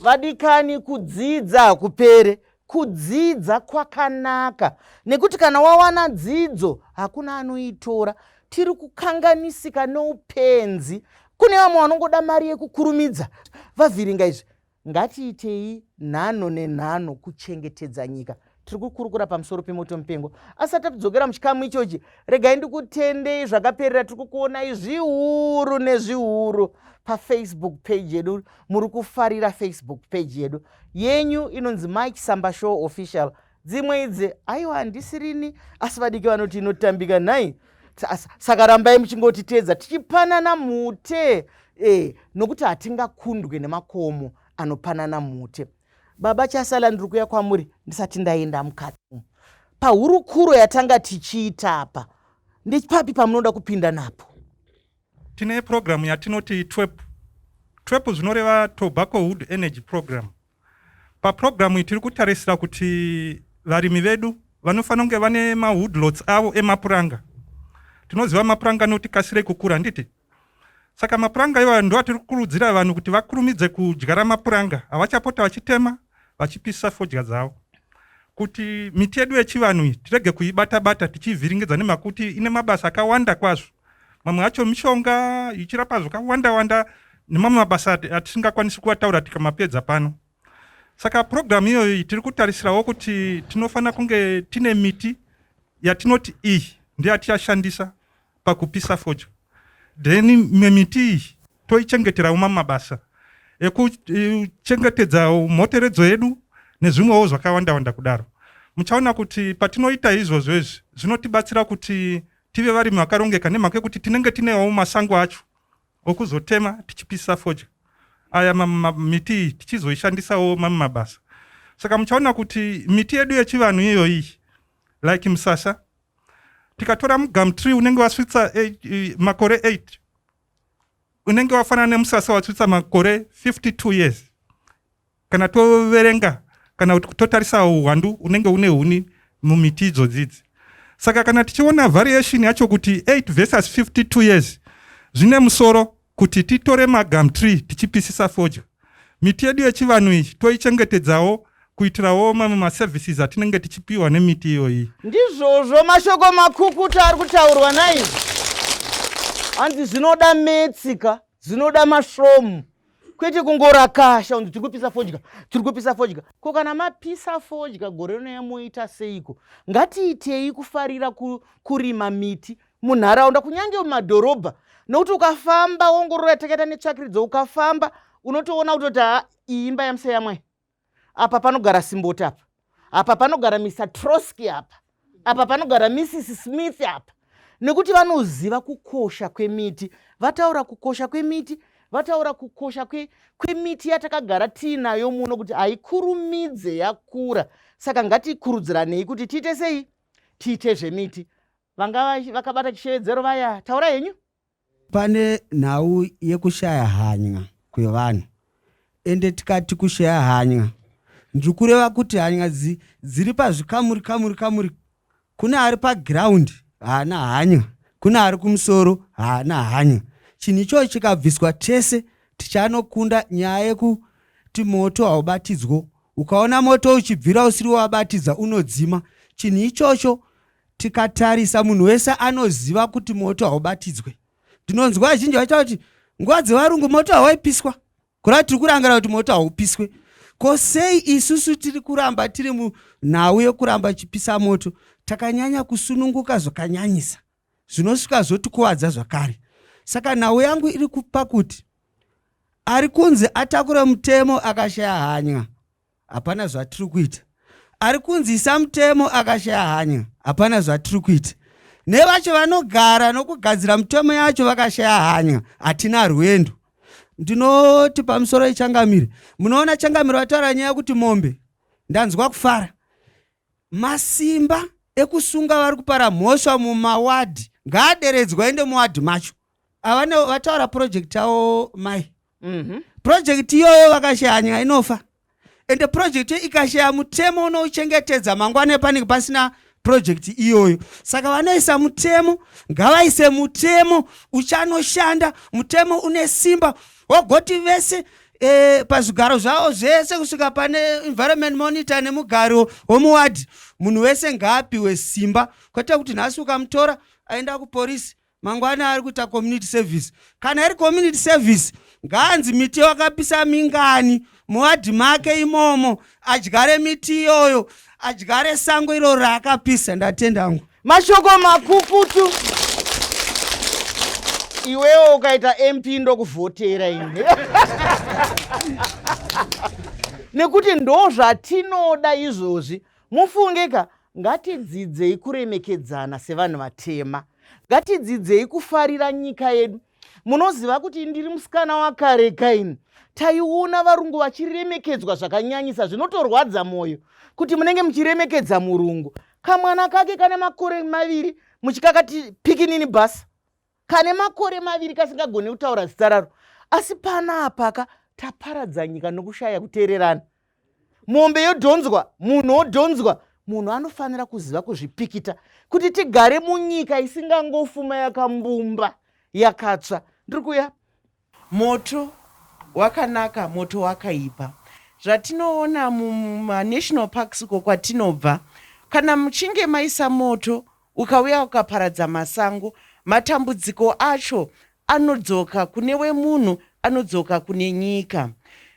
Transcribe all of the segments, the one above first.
vadikani kudzidza hakupere kudzidza kwakanaka nekuti kana wawana dzidzo hakuna anoitora tiri kukanganisika noupenzi kune vamwe vanongoda mari yekukurumidza vavhiringa izvi Ngatiitei nhano nenhano kuchengetedza nyika. Tiri kukurukura pamusoro pemoto mupengo. Asati tatidzokera muchikamu ichochi, regai ndikutendei zvakaperera. Tiri kukuonai zviuru nezviuru pafacebook page yedu. Muri kufarira facebook page yedu yenyu inonzi Mike Samba Show Official. dzimwe idzi aiwa handisi rini asi vadiki vanoti inotambika nhai saka rambai muchingotiteedza tichipanana mute e, nokuti hatingakundwe nemakomo anopanana mute baba chasala ndiri kuya kwamuri ndisati ndaenda mukati pahurukuro yatanga tichiita apa ndepapi pamunoda kupinda napo tine purogiramu yatinoti twep twep zvinoreva tobacco wood energy program Papurogiramu iyi tiri kutarisira kuti varimi vedu vanofanira kunge vane mawoodlots avo emapuranga. Tinoziva mapuranga anoti kasirei kukura handiti? Saka mapuranga iwayo ndo atiri kukurudzira vanhu kuti vakurumidze kudyara mapuranga avachapota vachitema vachipisa fodya dzavo kuti miti yedu yechivanhu iyi tirege kuibata-bata tichiivhiringidza nemakuti ine mabasa akawanda kwazvo. mamwe acho mishonga ichirapa zvakawanda wanda nemamwe mabasa atisingakwanisi kuataura tikamapedza pano saka purogiramu iyoyi tiri kutarisirawo kuti tinofanira kunge tine miti yatinoti iyi ndiyo yatichashandisa pakupisa fojo then imwe miti iyi toichengeterawo mamwe mabasa ekuchengetedza mhoteredzo yedu nezvimwewo zvakawanda wanda kudaro muchaona kuti patinoita izvozvo izvi zvinotibatsira kuti tive varimi vakarongeka nemhaka yekuti tinenge tinewo masango acho okuzotema tichipisa fodya aya miti iyi tichizoishandisawo mamwe mabasa saka muchaona kuti miti yedu yechivanhu iyoyi like musasa tikatora mugam tree unenge wasvitsa eh, eh, makore 8 unenge wafanana nemusasa wasvitsa makore 52 years kana toverenga kana kuti totarisa uwandu unenge une huni mumiti idzodzidzi saka kana tichiona variation yacho kuti 8 versus 52 years zvine musoro kuti titore magam tree tichipisisa fodya miti yedu yechivanhu iyi toichengetedzawo kuitirawo mamwe maservices atinenge tichipiwa nemiti iyoyi ndizvozvo mashoko makukuta ari kutaurwa naizvi hanzi zvinoda metsi ka zvinoda masvomu kwete kungorakasha unzi tiri kupisa fodya tiri kupisa fodya ko kana mapisa fodya gore rino yamoita seiko ngatiitei kufarira kurima miti munharaunda kunyange mumadhorobha nokuti ukafamba wongorora takaita netsvakiridzo ukafamba unotoona kutoti ha iyi imba yamuseyamwai apa panogara simboti apa apa panogara mr troski apa apa panogara mrs smith apa nekuti vanoziva kukosha kwemiti vataura kukosha kwemiti vataura kukosha kwemiti yatakagara tiinayo muno kuti haikurumidze yakura saka ngatikurudziranei kuti tiite sei tiite zvemiti vanga vakabata chishevedzero vaya taura henyu Pane nhau yekushaya hany'a kwevanhu ende tikati kushaya hany'a ndiri kureva kuti hany'a dzi, dziri pazvikamuri kamuri kamuri. Kune ari pagiraundi haana hany'a, kune ari kumusoro haana hany'a. Chinhu ichochi chikabviswa tese tichanokunda nyaya yekuti moto haubatidzwo. Ukaona moto uchibvira usiri wabatidza unodzima. Chinhu ichocho Tikatarisa munhu wese anoziva kuti moto haubatidzwe. Ndinonzwa vazhinji vachitaura kuti nguva dzevarungu moto hawaipiswa. Kureva tiri kurangarira kuti moto haupiswe. Ko sei isusu tiri kuramba tiri munhau yokuramba chipisa moto takanyanya kusununguka zvakanyanyisa zvinosvika zvotikuvadza zvakare. Saka nhau yangu iri kupa kuti ari kunzi atakure mutemo akashaya hanya. hapana zvatiri kuita ari kunzi samutemo akashaya hanya hapana zvatiri kuita nevacho vanogara nokugadzira mutemo yacho vakashaya hanya hatina rwendo ndinoti pamusoro ichangamire munoona changamire vataura nyaya yekuti mombe ndanzwa kufara masimba ekusunga vari kupara mhosva mumawadhi ngaaderedzwa ende muwadhi macho ava ne- vataura project yavo mai Mhm. project iyoyo vakashaya nyika inofa ende project iyo ikashaya mutemo unouchengetedza mangwana epanenge pasina project iyoyo saka vanoisa mutemo ngavaise mutemo uchanoshanda mutemo une simba wogoti vese eh, pazvigaro zvavo zvese kusvika pane environment monitor nemugaro womuwadhi munhu wese ngaapiwe simba kwete kuti nhasi ukamutora aenda kuporisi mangwana ari kuita community service kana iri community service ngaanzi miti wakapisa mingani muwadhi make imomo adyare miti iyoyo adyare sango iro raakapisa ndatenda angu mashoko makukutu iwewo ukaita mp ndokuvhotera ine nekuti ndo zvatinoda izvozvi mufunge ka Ngatidzidzei kuremekedzana sevanhu vatema. Ngatidzidzei kufarira nyika yedu. Munoziva kuti ndiri musikana wakare kaini. Taiona varungu vachiremekedzwa zvakanyanyisa zvinotorwadza mwoyo kuti munenge muchiremekedza murungu. Kamwana kake kane makore maviri muchikakati pikinini basa. kane makore maviri kasingagone kutaura zita raro asi pana apaka taparadza nyika nokushaya kuteererana mombe yodhonzwa munhu odhonzwa munhu anofanira kuziva kuzvipikita kuti tigare munyika isingangofuma yakambumba yakatsva ndiri kuya Moto wakanaka, moto wakaipa. Zvatinoona muma national parks uko kwatinobva, kana muchinge maisa moto ukauya ukaparadza masango, matambudziko acho anodzoka kune wemunhu, anodzoka kune nyika.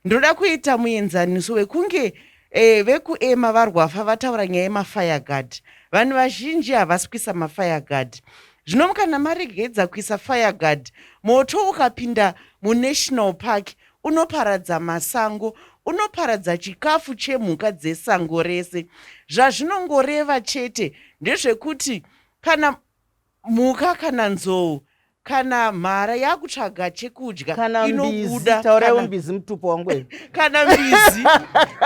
Ndoda kuita muenzaniso wekunge eh, vekuema varwafa vataura nyaya yemafire guard. Vanhu vazhinji havasi kuisa mafire guard. Zvino kana maregedza kuisa fireguard, moto ukapinda munational park unoparadza masango, unoparadza chikafu chemhuka dzesango rese. Zvazvinongoreva chete ndezvekuti kana mhuka kana nzou kana mhara yakutsvaga chekudya inobuda tauraiwo mbizi mutupo wangu kana mbizi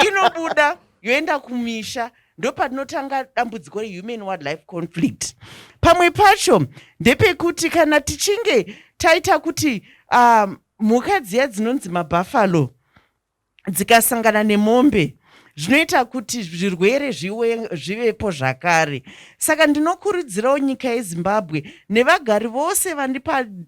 inobuda yoenda kumisha ndopatinotanga dambudziko rehuman wildlife conflict pamwe pacho ndepekuti kana tichinge taita kuti um, mhuka dziya dzinonzi mabhafalo dzikasangana nemombe zvinoita kuti zvirwere zvivepo zvakare saka ndinokurudzirawo nyika yezimbabwe nevagari vose vani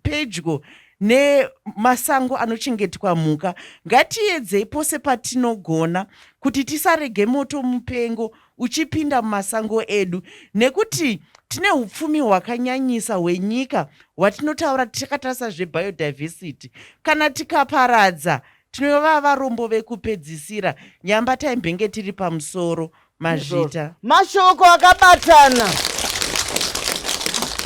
pedyo nemasango anochengetwa mhuka ngatiedzei pose patinogona kuti tisarege moto mupengo uchipinda mumasango edu nekuti tine upfumi hwakanyanyisa hwenyika hwatinotaura tichakatarisa zvebiodiversity kana tikaparadza tinova varombo vekupedzisira nyamba taimbenge tiri pamusoro mazvita mashoko akabatana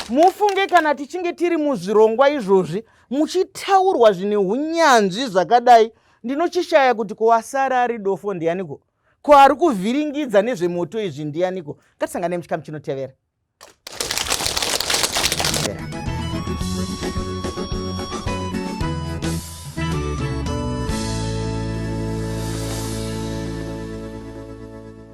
mufunge kana tichinge tiri muzvirongwa izvozvi muchitaurwa zvine unyanzvi zvakadai ndinochishaya kuti kuwasara ari dofo ndiyaniko ko ari kuvhiringidza nezvemoto izvi ndiyaniko ngatisangane muchikamu chinotevera